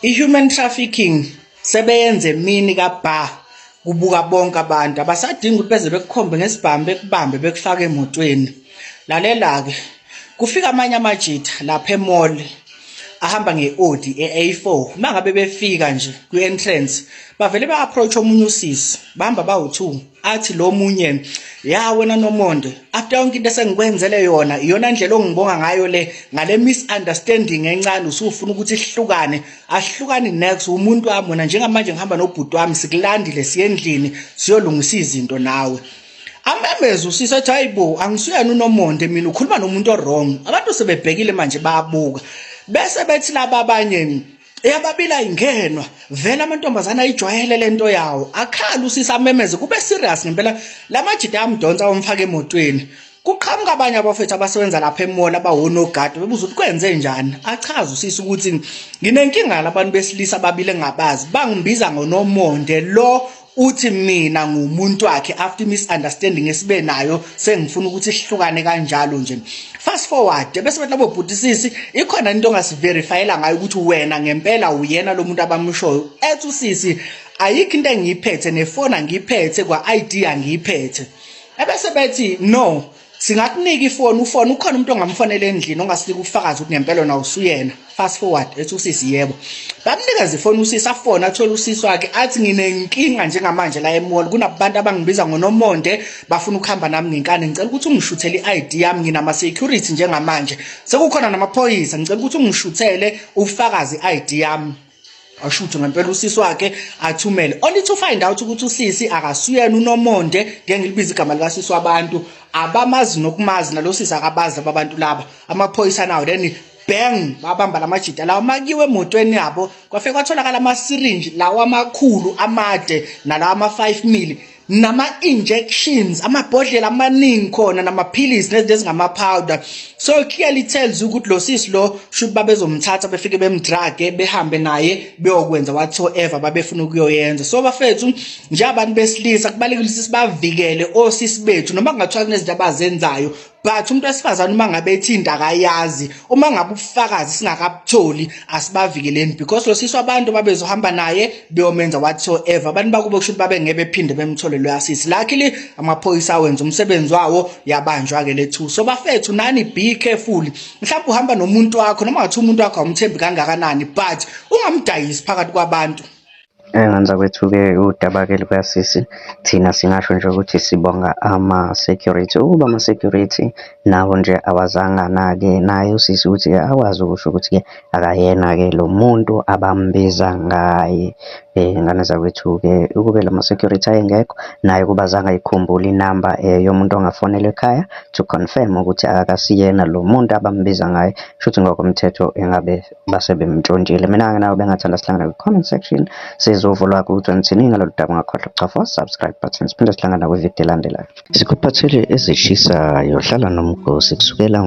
i-human trafficking sebeyenze mini kabha kubuka bonke abantu abasadingi ukuthi beze bekukhombe ngesibhamu bekubambe bekufake emotweni lalela-ke kufika amanye amajitha lapha emall ahamba nge-odi e-a4 uma ngabe befika nje kwi-entrance bavele ba-approach omunye usisi bahamba bawu-two athi lo munye ya wena nomonde after yonke into esengikwenzele yona iyona ndlela ongibonga ngayo le ngale misunderstanding encane usufuna ukuthi sihlukane ahlukani next umuntu wami wena njengamanje ngihamba nobhuti wami sikulandile siyendlini siyolungisa izinto nawe amemeze usisa athi hayibo angisuyena unomonde mina ukhuluma nomuntu owrong abantu sebebhekile manje bayabuka bese bethi laba abanye eyababili ayingenwa vele amantombazane ayijwayele lento yawo akhala usisi amemeze kube serious ngempela lamajita amdonsa omfaka emotweni kuqhamuka abanye abafethu abasebenza lapha emall abawonogadi bebuza ukuthi kwenze njani achaza usisi ukuthi nginenkinga labantu besilisa ababili engabazi bangimbiza ngonomonde lo uthi mina ngumuntu wakhe after misunderstanding esibe nayo sengifuna ukuthi sihlukane kanjalo nje fast forward bese bathi labo bhutisisi ikhona into ongasiverifyela ngayo ukuthi wena ngempela uyena lo muntu abamushoyo ethi usisi ayikho into engiyiphethe nefona ngiyiphethe kwa-id angiyiphethe ebese bethi no singakunika ifoni ufone ukhona umuntu ongamfonela endlini ongasinika ubufakazi ukuthi ngempela na usuyena fast forward ethi usisi yebo bamnikeza ifoni usisi afone athole usisi wakhe athi nginenkinga njengamanje la emall kunabantu abangibiza ngonomonde bafuna ukuhamba nami ngenkani ngicela ukuthi ungishuthele i-id yami nginama-security njengamanje sekukhona namaphoyisa ngicela ukuthi ungishuthele ubufakazi i-id yami asho ukuthi ngempela usisi wakhe athumele only to find out ukuthi usisi akasuyena unomonde ngeke ngilibize igama likasisi wabantu abamazi nokumazi nalosisi akabazi laba bantu laba amaphoyisa nawo then bang babamba lamajita lawo makiwe emotweni yabo kwafika kwatholakala ama syringe lawo amakhulu amade nalawa ama 5 mili nama-injections amabhodlela amaningi khona namaphilisi nezinto ezingama-powder so clearly tells ukuthi lo sisi lo shuthi babezomthatha befike bemdrage behambe naye beyokwenza whatsoever babefuna ukuyoyenza so bafethu njengabantu besilisa kubalekile ukuthi sibavikele osisi bethu noma kungathiwa kunezinto abazenzayo but umuntu wesifazane uma ngabe ethinda akayazi uma ngabe ubufakazi singakabutholi asibavikeleni because lo sisi wabantu babezohamba naye beyomenza whatsoever abantu bakubo kusho ukuthi babe ngeke bephinde bemthole lo yasisi luckily amaphoyisa awenza umsebenzi wawo yabanjwa ke lethu so bafethu nani be careful mhlawumbe uhamba nomuntu wakho noma ngathi umuntu wakho awumthembi kangakanani but ungamdayisi phakathi kwabantu Engenza kwethuke udaba-ke lukasisi, thina singasho nje ukuthi sibonga ama-security. Ukuba ama-security nawo nje awazange anake naye usisi ukuthi-ke akwazi ukusho ukuthi-ke akayena-ke lo muntu abambiza ngaye. Ngane zakwethu-ke ukube la ma-security ayengekho, naye ukuba azange ayikhumbule inamba yomuntu ongafonelwa ekhaya to confirm ukuthi akasiyena lo muntu abambiza ngaye. Kushuthi ngokomthetho engabe. base bemntshontshile. Mina-ke nawe bengathanda sihlangane kwi-comment section sizovulwa ukuthi nithini ngalolu daba ungakhohlwa ukuchofa subscribe button siphinde sihlangana kwividiyo elandelayo sikuphathele ezishisayo hlala nomgosi kusukela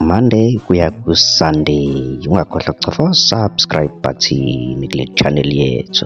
monday kuya kusunday ungakhohlwa ukuchofa subscribe button kule channel yethu